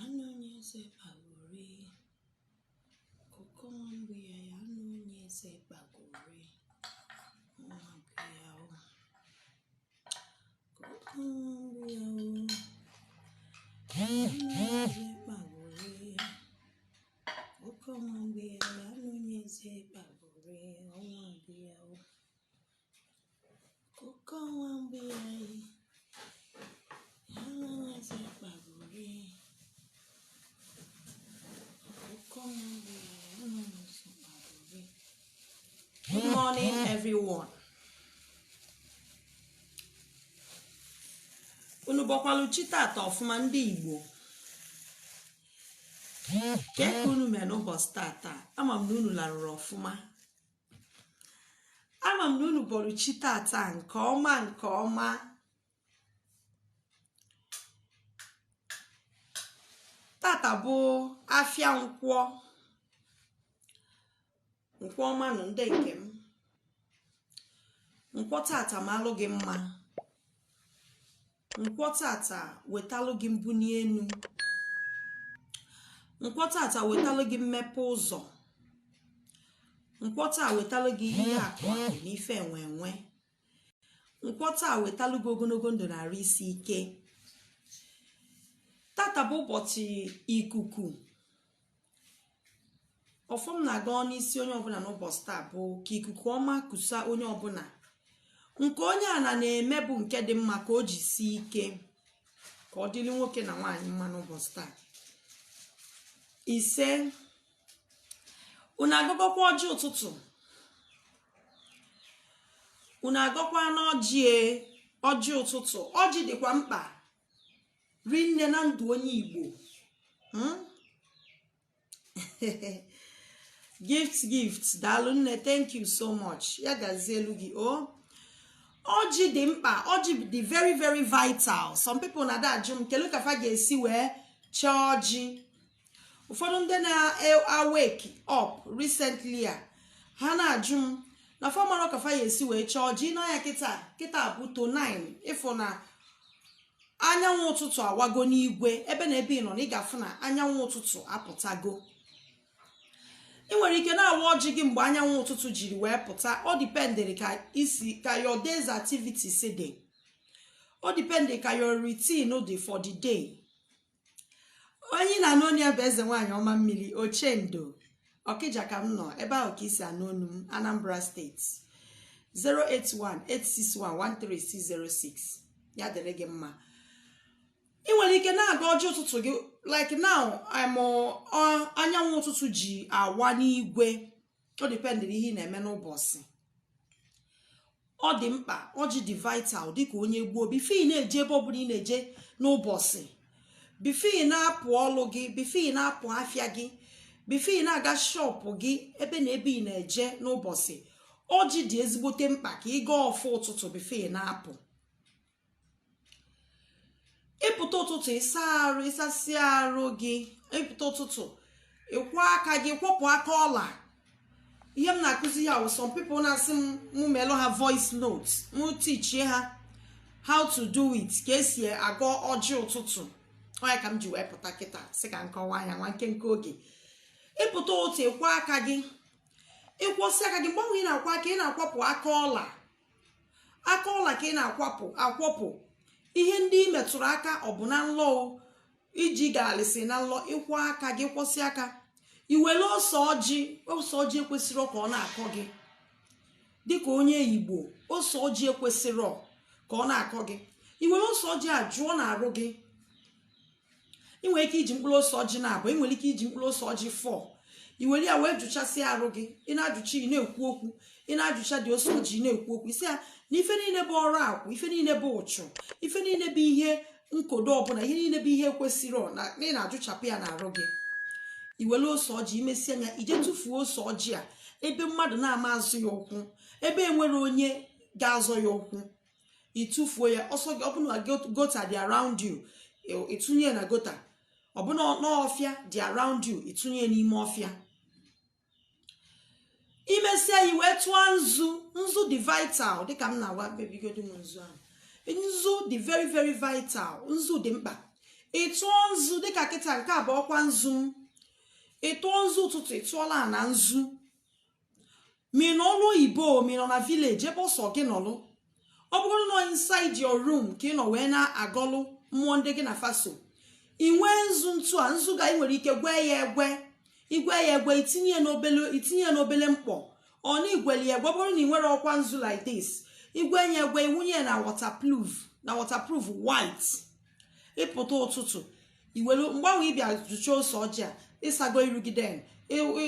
Anụ onye eze kpagori, ọkụkọ nwa mgbe ya ya anụ onye eze kpagori, nwa mgbe ya o. Ọkụkọ nwa mgbe ya o, anụ onye eze kpagori, ọkụkọ nwa mgbe ya ya anụ onye eze kpagori, nwa mgbe ya o. everyone unu bọkwalụ chi tata ọfụma ndị igbo kee ka unu mee n'ụbọchị tata ama m na unu larụrụ ọfụma ama m na unu bọrọ chi tata nke ọma nke ọma tata bụ afịa nkwọ nkwọ ọma nụ ndị nke m nkwọ tata malụ gị mma Nkwọ tata wetalụ gị mbuni enu. Nkwọ tata wetalụ gị mmepe ụzọ. Nkwọ taa wetalụ gị ihe akụ akụ na ife enwe enwe. Nkwọ taa wetalụ gị ogonogo ndụ na arụ isi ike. Tata bụ ụbọchị ikuku ọfọ m na-agọ n'isi onye ọbụna n'ụbọchị taa bụ ka ikuku ọma kusa onye ọbụna nke onye a na na-eme bụ nke dị mma ka o jisi ike ka ọ dịlị nwoke na nwaanyị mma n'ụbọchị taa ise unu agọgokwa ọjị ụtụtụ unu agọkwana ọjị e, ọjị ụtụtụ ọjị dịkwa mkpa rinne na ndụ onye igbo hmm? gift gift daalụ nne thank you so much ya gazielụ gị o oh. ọjị dị mkpa ọjị dị very very vital some people na-adị ajụ m kelu ka fa ga-esi wee chee ọjị ụfọdụ ndị na-awake up recently a ha na-ajụ m na fa amarọ ka fa ya-esi wee chee ọjị nee anya kịta kịta bụ to 9 ị fụ na anyanwụ ụtụtụ awago n'igwe ebe na ebe ị nọ na ị ga-afụ na anyanwụ ụtụtụ apụtago ị nwere ike na-awa ọjị gị mgbe anyanwụ ụtụtụ jiri wee pụta ọ dependịrị ka i si ka your day's activities dị ọ dependịrị ka your routine dị for the day onye ị na-anụ onu ya bụ eze nwaanyị ọma mmiri ochendo ọkịja ka m nọ ebe ahụ ka i si anụ onu m anambra steeti 08186113606 ya dịrị gị mma ị nwere ike na-agọ ọjị ụtụtụ gị like now I'm uh, anyanwụ ụtụtụ ji awa n'igwe ọ dependịrị ihe ị na-eme n'ụbọsị ọ dị mkpa ọjị dị vital dịka onye igbo bifo ị na-eje ebe ọbụla ị na-eje n'ụbọsị bifo ị na-apụ ọlụ gị bifo ị na-apụ afịa gị bifo ị na-aga shọpụ gị ebe na ebe ị na-eje n'ụbọsị ọjị dị ezigbote mkpa ka ị gọọ ọfọ ụtụtụ bifo ị na-apụ ịpụta ụtụtụ ịsa arụ ịsasịa arụ gị ịpụta ụtụtụ ịkwọ aka gị kwọpụ aka ọla ihe m na-akụzi ya wụ some people na-asị m mụ melụ ha voice note mụ tichie ha how to do it ka esi agọ ọjị ụtụtụ ọ ya ka m ji wee pụta kịta sị ka m kọwaa ya nwa nkenke oge ịpụta ụtụtụ ịkwọ aka gị ịkwọsịa aka gị mgbe ahụ ị na-akwọ aka ị na-akwọpụ aka ọla aka ọla ka ị na-akwọpụ ihe ndị ị metụrụ aka ọ bụ na nlọ iji gaalịsị na nlọ ịkwọ aka gị kwọsịa aka iwere ose ọjị ose ọjị ekwesịrọ ka ọ na-akọ gị dịka onye igbo ose ọjị ekwesịrọ ka ọ na-akọ gị iwere ose ọjị a jụọ n'arụ gị ị nwere ike iji mkpụrụ ose ọjị naabọ ị nwere ike iji mkpụrụ ose ọjị four i were ya wee jụchasịa arụ gị ị na-ajụcha ị na-ekwu okwu ị na-ajụcha the ose ọjị ị na-ekwu okwu ị sị ya na ife niile bụ ọrụ akwụ ife niile bụ uchu ife niile bụ ihe nkodo ọbụla ihe niile bụ ihe ekwesịrọ na ị na-ajụchapụ ya n'arụ gị i were ose ọjị imesịa ya ije tụfuo ose ọjị a ebe mmadụ na-ama azọ ya ụkwụ ebe enwerọ onye ga-azọ ya ụkwụ ịtụfuo ya ose ọjị ọ bụ na gota dị around you ịtụnye ya na gota ọ bụ na ọfịa dị around you ịtụnye ya n'ime ọfịa imesịa i wee tụọ nzu nzu dị vital dịka m na-agwa bebigodu m nzu ahụ nzu dị very very vital nzu dị mkpa ịtụọ nzu dịka kịta nke a bụ ọkwa nzu m ịtụọ nzu ụtụtụ ịtụọlụ ana nzu ma ị nọ ọrụ oyibo ma ị nọ na vileji ebe ọ sọ gị nọlụ ọ bụrụ na inside your room ka ị nọ wee na-agọlụ mmụọ ndị gị na fa so ị nwee nzu ntụ a nzu ga ị nwere ike gwee ya egwe igwe ya egwe itinye ya n'obele mkpọ ọ na igweli ya egwe ọ bụrụ na ị nwerọ ọkwa nzu like this igwe ya egwe iwunye ya na waterproof white ịpụta ụtụtụ iwelu mgbanwe ịbịa zụcha ose ọjị a ịsago iru gị then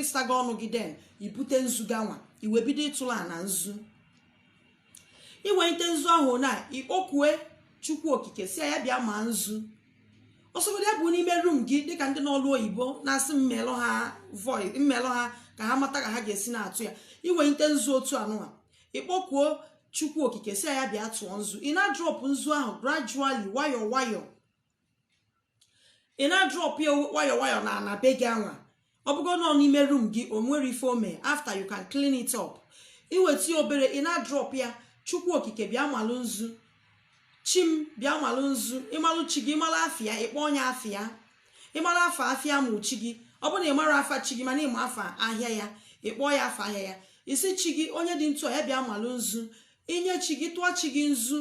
ịsago ọnụ gị then ibute nzu gị anwa i wee bido ịtụlụ ana nzu iwelite nzu ahụ na ịkpọkue chukwu okike si ya bịa ma nzu ọ sọgodu ya bụ n'ime room gị dịka ndị nọlụ oyibo na-asị m melụ ha voi m melụ ha ka ha mata ka ha ga-esi na-atụ ya iwelite nzu otu anụwa ịkpọkuo chukwu okike si ya bịa tụọ nzu ị na-adrop nzu ahụ gradually nwayọ nwayọ ị na-adrop ya nwayọ nwayọ na ana be gị anwa ọ bụgo nọ n'ime room gị o nwerọ ife o me after you can clean it up iweta ya obere ị na-adrop ya chukwu okike bịa malụ nzu chi m bịa malụ nzu ịmalụ chi gị ịmalụ afa ya ịkpọọ nya afa ya ịmara afa afịa ma chi gị ọ bụrụ na ị marọ afa chi gị mana ịma afa ahịa ya ịkpọ ya afa ahịa ya ị sị chi gị onye dị ntu a ya bịa malụ nzu inye chi gị tụọ chi gị nzu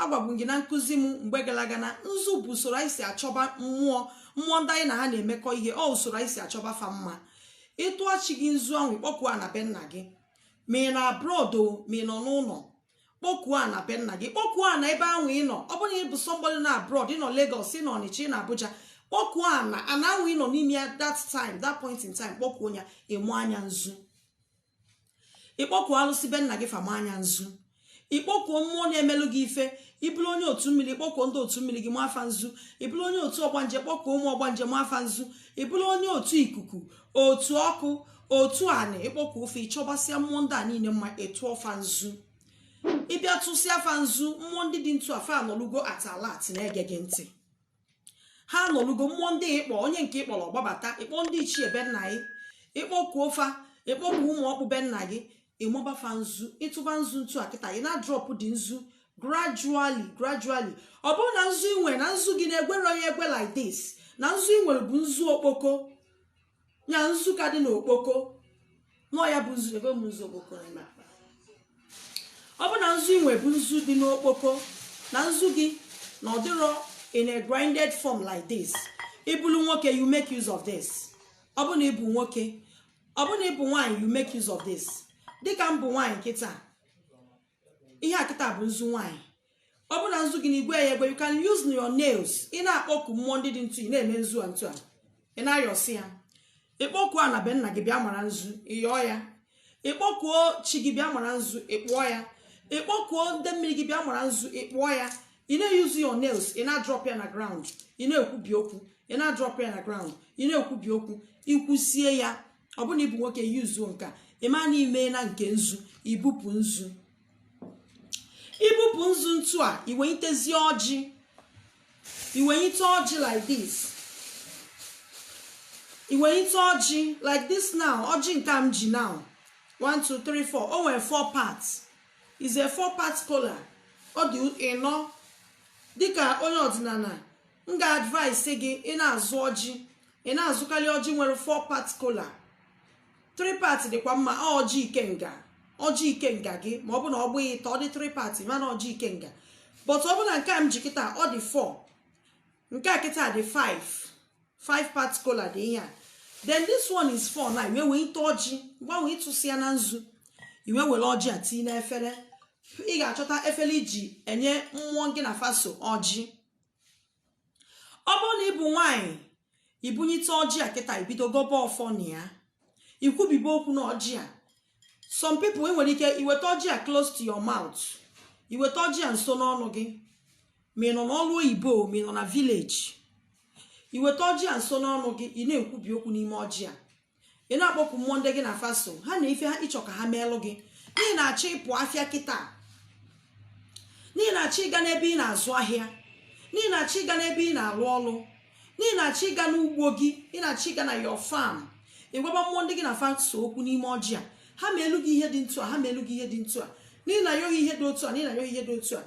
agwago m gị na nkụzi m mgbe gara aga na nzu bụ usoro anyị si achọba mmụọ mmụọ ndị anyị na ha na-emekọ ihe ọ usoro anyị si achọba fa mma ịtụọ chi gị nzu ahụ ịkpọkuo ana be nna gị ma ị nọ abroad ma ị nọ n'ụlọ kpọkuo ana be nna gị kpọkuo ana ebe ahụ ị nọ ọ bụrụ na ị bụ somebody nọ abroad ị nọ Lagos ị nọ Ọnịcha ị nọ Abuja kpọkuo ana ana ahụ ị nọ n'ime ya that time that point in time kpọkuo ya ịmaa nya nzu ịkpọkuo alụsị be nna gị fa maa nya nzu ịkpọkuo mmụọ na-emelụ gị ife ịbụrụ onye otu mmiri kpọkuo ndị otu mmiri gị maa fa nzu ịbụrụ onye otu ọgbanje kpọkuo ụmụ ọgbanje maa fa nzu ịbụrụ onye otu ikuku otu ọkụ otu anị ịkpọkuo fa ịchọbasịa mmụọ ndị a niile mma ịtụọ fa nzu ịbịa tụsịa fa nzu mmụọ ndị dị ntu a fa anọlugo at alert na-ege gị ntị ha anọlugo mmụọ ndị ịkpọ onye nke ịkpọrọ ọ gbabata ịkpọ ndị ichie be nna gị ịkpọkuo fa ịkpọku ụmụ ọkpụ be nna gị ịmaba fa nzu ịtụba nzu ntu a kịta ị na-adrop the nzu gradually gradually ọ bụrụ na nzu inwe na nzu gị na egwerọ ya egwe like this na nzu inwere bụ nzu okpoko ya nzu ka dị n'okpoko na ọ ya bụ nzu ebe m nzu okpoko na ime akpa ọ bụ na nzu inwe bụ nzu dị n'okpoko na nzu gị na ọ dịrọ in a grinded form like this ịbụrụ nwoke you make use of this ọ bụ na ịbụ nwoke ọ bụ na ịbụ nwaanyị you make use of this dịka m bụ nwaanyị kịta ihe a kịta bụ nzu nwaanyị ọ bụ na nzu gị na egwerọ ya egwe you can use your nails ị na-akpọku mmụọ ndị dị ntu ị na-eme nzu a ntu a ị na-ayọsị ya ịkpọkuo ana be nna gị bịa mara nzu ịyọọ ya ịkpọkuo chi gị bịa mara nzu ịkpụọ ya ịkpọkuo ndị mmiri gị bịa mara nzu ịkpụọ ya ị na-use your nails ị na-adrop ya na ground ị na-ekwubi okwu ị na-adrop ya na ground ị na-ekwubi okwu ikwusịa ya ọ bụrụ na ịbụ nwoke yuzuo nke a ị ma na ime na nke nzu ibupụ nzu ibupụ nzu ntu a iwenyitezi ọjị iwenyite ọjị like this iwenyite ọjị like this now ọjị nke m ji now 1 2 3 4 o nwere 4 parts is a 4 part kola ọ dị ịnọ dịka onye ọdịnala m ga-advise gị ị na-azụ ọjị ị na-azụkarị ọjị nwere 4 part kola 3 part dịkwa mma ọjị ikenga ọjị ikenga gị ma ọ bụ na ọ bụ ịtọ ọ dị 3 part mana ọjị ikenga but ọ bụ na nke a m ji kịta ọ dị 4 nke a kịta dị 5 5 part kola dị ihe a then this one is 4 na iwenyite ọjị mgbe ahụ ịtụsịana nzu iwe were ọjị a tinye n'efere ị ga-achọta efere iji enye mmụọ gị na fa so ọjị ọ bụrụ na ịbụ nwaanyị ibunyite ọjị a kịta ibido gọbe ọfọ na ya ikwubibe okwu na ọjị a some people i nwere ike iweta ọjị a close to your mouth iweta ọjị a nso n'ọnụ gị ma ị nọ n'ọrụ oyibo ma ị nọ na village iweta ọjị a nso n'ọnụ gị ị na-ekwubi okwu n'ime ọjị a ị na-akpọku mmụọ ndị gị na fa so ha na ife ha ịchọ ka ha meelụ gị na ị na-achọ ịpụ afịa kịta na ị na-achọ ịga n'ebe ị na-azụ ahịa na ị na-achọ ịga n'ebe ị na-alụ ọlụ na ị na-achọ ịga n'ugbo gị ị na-achọ ịga na your farm ịgwaba mmụọ ndị gị na fa so okwu n'ime ọjị a ha meelu gị ihe dị ntu a ha meelu gị ihe dị ntu a na ị na-ayọ ihe dị otu a na ị na-ayọ ihe dị otu a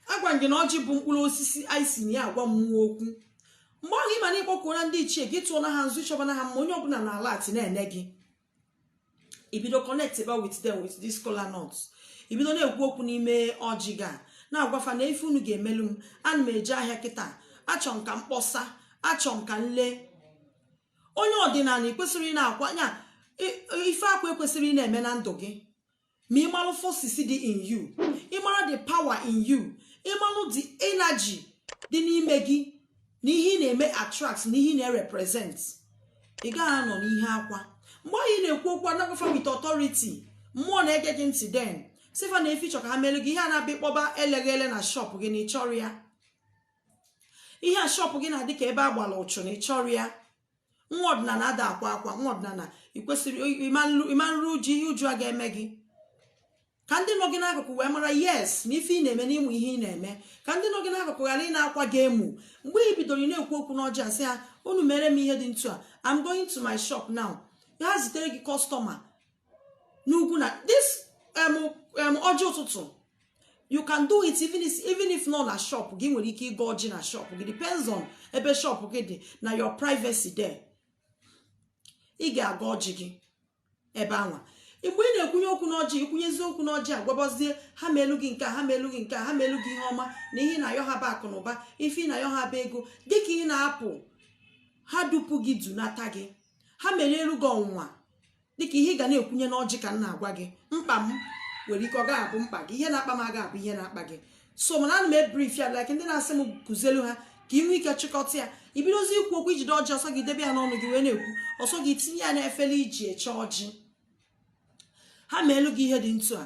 agwa m gị na ọjị bụ mkpụrụ osisi anyị si na ya agwa mmụọ okwu mgbe ahụ ịma na ịkpọkuona ndị ichie gị tụọna ha nzu ịchọba na ha ma onye ọbụla na alert na-ene gị ibido connect ba with them with this kola nut ibido na-ekwu okwu n'ime ọjị ga na-agwa fa na ife unu ga-emelu m ana m eje ahịa kịta achọ m ka m kpọsa achọ m ka m lee onye ọdịnala ị kwesịrọ ị na-akwa ya i- ife akwa ekwesịrọ ị na-eme na ndụ gị ma ịmalụ forces dị in you ịmara the power in you ịmalụ the energy dị n'ime gị na ihe ị na-eme attract na ihe ị na-represent ị gaghị anọ n'ihe akwa mgbe ahụ ị na-ekwu okwu a na-agwa fa with authority mmụọ na-ege gị ntị then sị fa na ife ị chọ ka ha melu gị ihe a na-abịa ịkpọba eleghị ele na shop gị na ịchọrọ ya ihe a shop gị na-adị ka ebe a gbara ụchụ na ịchọrọ ya nwa ọdịnala ada akwa akwa nwa ọdịnala ikwesịrị ịmarụ uju ihe uju a ga-eme gị ka ndị nọ gị n'akụkụ wee mara yes na ife ị na-eme n'ịmụ ihe ị na-eme ka ndị nọ gị n'akụkụ ghara ị na-akwa gị emu mgbe ị bidoro ị na-ekwu okwu n'ọjị a sị ha unu mere m ihe dị ntu a I'm going to my shop now ha zitere gị customer n'ugwu na this ọjị ụtụtụ you can do it even if, even if ị nọ na shop gị ị nwere ike ịgọ ọjị na shop gị depends on ebe shop gị dị na your privacy there ị ga-agọ ọjị gị ebe anwa mgbe ị na-ekwunye okwu n'ọjị ikwunyezie okwu n'ọjị agwabazie ha meelu gị nke ha meelu gị nke ha meelu gị ihe ọma na ihe ị na-ayọ ha bụ akụ na ụba ife ị na-ayọ ha bụ ego dịka ị na-apụ ha dupu gị dunata gị ha melielu gị ọnwụnwa dịka ihe ị ga na-ekwunye n'ọjị ka m na-agwa gị mkpa m nwere ike ọ gaghị abụ mkpa gị ihe na-akpa m aga abụ ihe na-akpa gị so mana ana m ebrief ya like ndị na-asị m kụzielu ha ka ị nwee ike chịkọta ya ibidozi ikwu okwu ijide ọjị ọ sọ gị debe ya n'ọnụ gị wee na-ekwu ọ sọ gị tinye ya n'efere i ji eche ọjị ha meelu gị ihe dị ntu a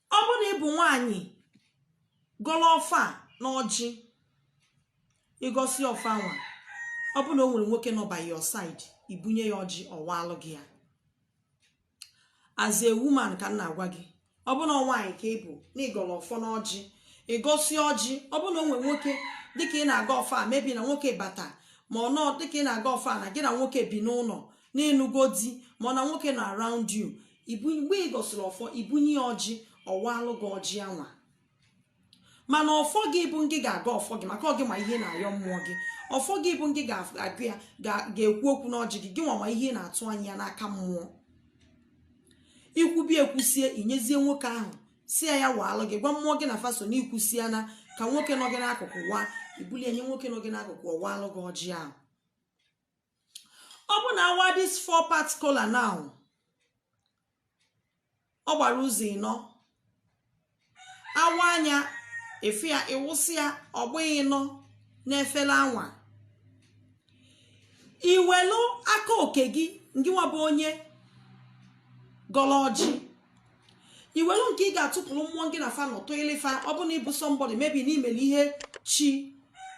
ọ bụrụ na ị bụ nwaanyị gọrọ ọfọ na ọjị ị gọsị ọfọ anwa ọ bụrụ na o nwere nwoke nọ by your side ibunye ya ọjị ọ waalụ gị ya as a woman ka m na-agwa gị ọ bụrụ na nwaanyị ka ị bụ na ị gọrọ ọfọ na ọjị ị gọsị ọjị ọ bụrụ na o nwere nwoke dịka ị na-agọ ọfọ maybe na nwoke bata ma ọ na dịka ị na-agọ ọfọ na gị na nwoke bi n'ụlọ na ị nụgo di ma ọ na nwoke nọ around you mgbe ị gọsịrị ọfọ ibunye ya ọjị ọ waalụ gị ọjị anwa mana ọfọ gị bụ ngị ga-agọ ọfọ gị maka ọ gị ma ihe ị na-ayọ mmụọ gị ọfọ gị bụ ngị ga-agọ ya ga-ekwu okwu n'ọjị gị gị nwa ma ihe ị na-atụ anya ya n'aka mmụọ ikwubi ekwusie inyezie nwoke ahụ sị ya ya waalụ gị gwa mmụọ gị na fa so na ikwusie na ka nwoke nọ gị n'akụkụ waa ibuli enye nwoke nọ gị n'akụkụ ọ waalụ gị ọjị ahụ ọ bụ na a waa this four part kola now ọ gbara ụzọ ịnọ awa anya efu ya ịwụsị ya ọ gbago ịnọ n'efele anwa iwelu aka oke gị ngịwa bụ onye gọrọ ọjị iwelu nke ị ga-atụpụrụ mmụọ gị na fa nọ tụịlị fa ọ bụ na ị bụ somebody maybe na i mere ihe chi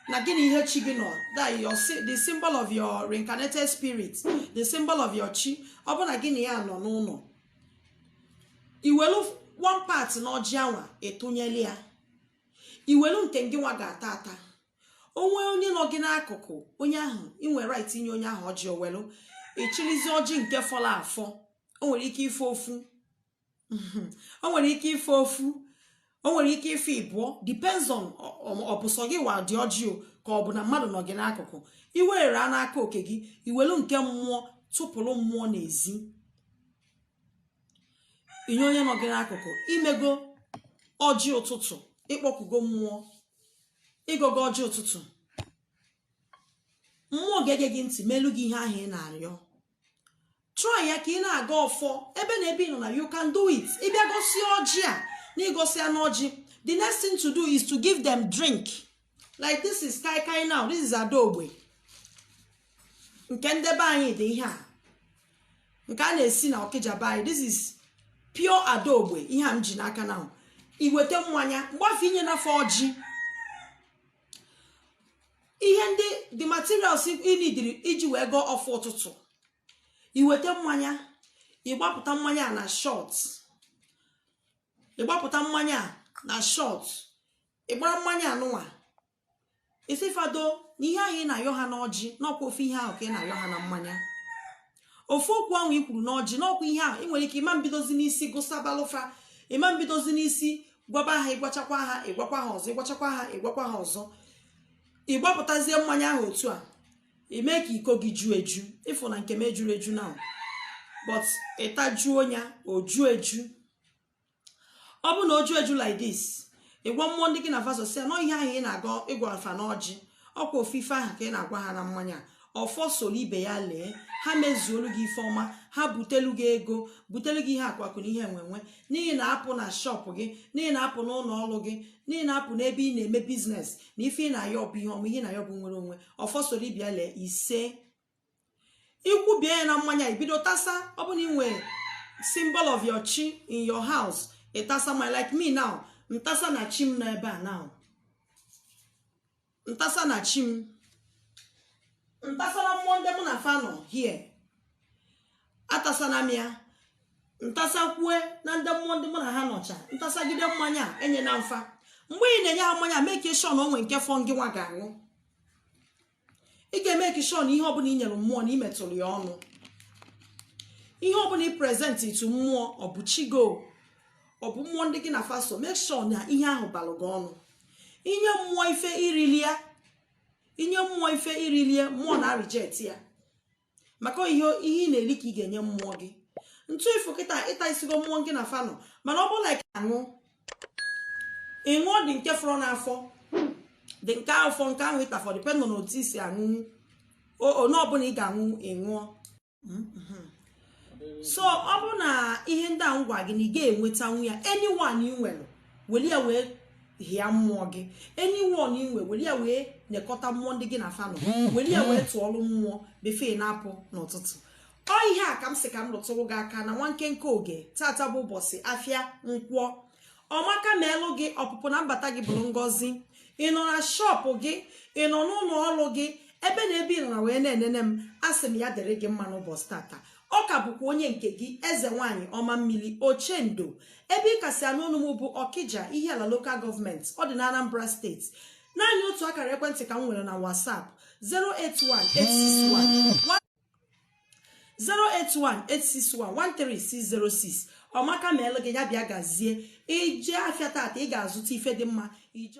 na gị na ihe chi gị nọ that your sy- the symbol of your reincarnated spirit the symbol of your chi ọ bụ na gị na ya nọ n'ụlọ iwelu one part na ọjị anwa ị tụnyelụ ya iwelu nke ngị nwa ga-ata ata o nwee onye nọ gị n'akụkụ onye ahụ i nwe right inye onye ahụ ọjị o welu ị chịlịzie ọjị nke fọrọ afọ o nwere ike ịfọ ofu o nwere ike ịfọ ofu o nwere ike ịfọ ịbụọ depends on ọ bụ sọ gị wa dị ọjị o ka ọ bụ na mmadụ nọ gị n'akụkụ iwere a n'aka oke gị iwelu nke mmụọ tụpụrụ mmụọ n'ezi inye onye nọ gị n'akụkụ i mego ọjị ụtụtụ ị kpọkugo mmụọ ị gọgo ọjị ụtụtụ mmụọ ga-ege gị ntị melu gị ihe ahụ ị na-arịọ try ya ka ị na-agọ ọfọ ebe na ebe ị nọ na you can do it ị bịa gọsịa ọjị a na ị gọsịa n'ọjị the next thing to do is to give them drink like this is kai kai now this is adaogbe nke nde be anyị dị ihe a nke a na-esi na okija be anyị this is pure adaogbe ihe a m ji n'aka na i weta mmanya mgbe afụ i nyena fa ọjị ihe ndị the materials ị nidiri iji wee gọọ ọfọ ụtụtụ i weta mmanya ị gbapụta mmanya a na shot ị gbapụta mmanya a na shot ị gbara mmanya anụnwa isifado na ihe ahụ ị na-ayọ ha n'ọjị n'ọkwa ofu ihe ahụ ka ị na-ayọ ha na mmanya ofu okwu ahụ i kwuru n'ọjị n'ọkwa ihe ahụ ị nwere ike ị ma mbidozi n'isi gụsabalụ fa ị ma mbidozi n'isi gwaba ha ị gwachakwa ha ị gwakwa ha ọzọ ị gwachakwa ha ị gwakwa ha ọzọ ị gbapụtazie mmanya ahụ otu a i mee ka iko gị juo eju ị fụ na nke m ejuro eju now but ị tajuo ya o juo eju ọ bụrụ na o ju eju like this ị gwa mmụọ ndị gị na fa so sị na ọ ihe ahụ ị na-aga ịgwa fa n'ọjị ọkwa ofu ife ahụ ka ị na-agwa ha na mmanya ọfọ soro ibe ya lee ha mezuolu gị ife ọma ha butelu gị ego butelu gị ihe akụakụ na ihe enwenwe n'ihi na apụ na shop gị n'ihi na apụ n'ụlọ ọrụ gị n'ihi na apụ n'ebe ị na-eme business na ife ị na-ayọ bụ ihe ọma ihe ị na-ayọ bụ nwere onwe ọfọ soro ibe ya lee ise i kwubie ya na mmanya i bido tasa ọ bụ na i nwe symbol of your chi in your house ị tasana ya like me now m tasana chi m n'ebe a now m tasana chi m m tasana mmụọ ndị mụ na fa nọ here atasana m ya m tasakwuena ndị mmụọ ndị mụ na ha nọcha m tasagide mmanya enyena m fa mgbe ị na-enye ha mmanya make sure na o nwe nke fọ ngị nwa ga-aṅụ ị ga-emake sure na ihe ọbụla i nyere mmụọ na i metụrụ ya ọnụ ihe ọbụla ị presentị to mmụọ ọ bụ chi gị o ọ bụ mmụọ ndị gị na fa so make sure na ihe ahụ balụ gị ọnụ i nye mmụọ ife i rilie i nye mmụọ ife i rilie mmụọ na-areject ya maka ọ ihe ị na-eri ka ị ga-enye mmụọ gị ntụ ị fụ kịta ị tasịgo mmụọ gị na fa nọ mana ọ bụrụ na ị ka aṅụ ị ṅụọ the nke fọrọ n'afọ the nke afọ nke ahụ ị tafọ depend na otu i si aṅụ one ọbụla ị ga-aṅụ ị ṅụọ mm-hmm. so ọ bụ na ihe ndị a m gwa gị na ị ga-enwetanwu ya anyone ị nwere weli ya wee hịa mmụọ gị anyone i nwe weli ya wee nyekọta mmụọ ndị gị na fa nọ weli ya wee tụọlụ mmụọ before ị na-apụ n'ụtụtụ ọ ihe a ka m sị ka m lụtụrụ gị aka na nwa nkenke oge tata bụ ụbọchị afịa nkwọ ọmaka meelụ gị ọpụpụ na mbata gị bụrụ ngọzi ị nọ na shop gị ị nọ n'ụlọ ọrụ gị ebe na ebe ị nọ na wee na-enene m asị m ya dịrị gị mma n'ụbọchị tata ọ ka bụkwa onye nke gị eze nwaanyị ọma mmiri ochendo ebe ị ka si anụ onu m bụ ọkija ihiala local government ọ dị na anambra steeti naanị otu akara ekwentị ka m nwere na whatsapp 08186113606 ọmaka meelụ gị ya bịa gazie ije afịa tata ị ga-azụta ife dị mma ije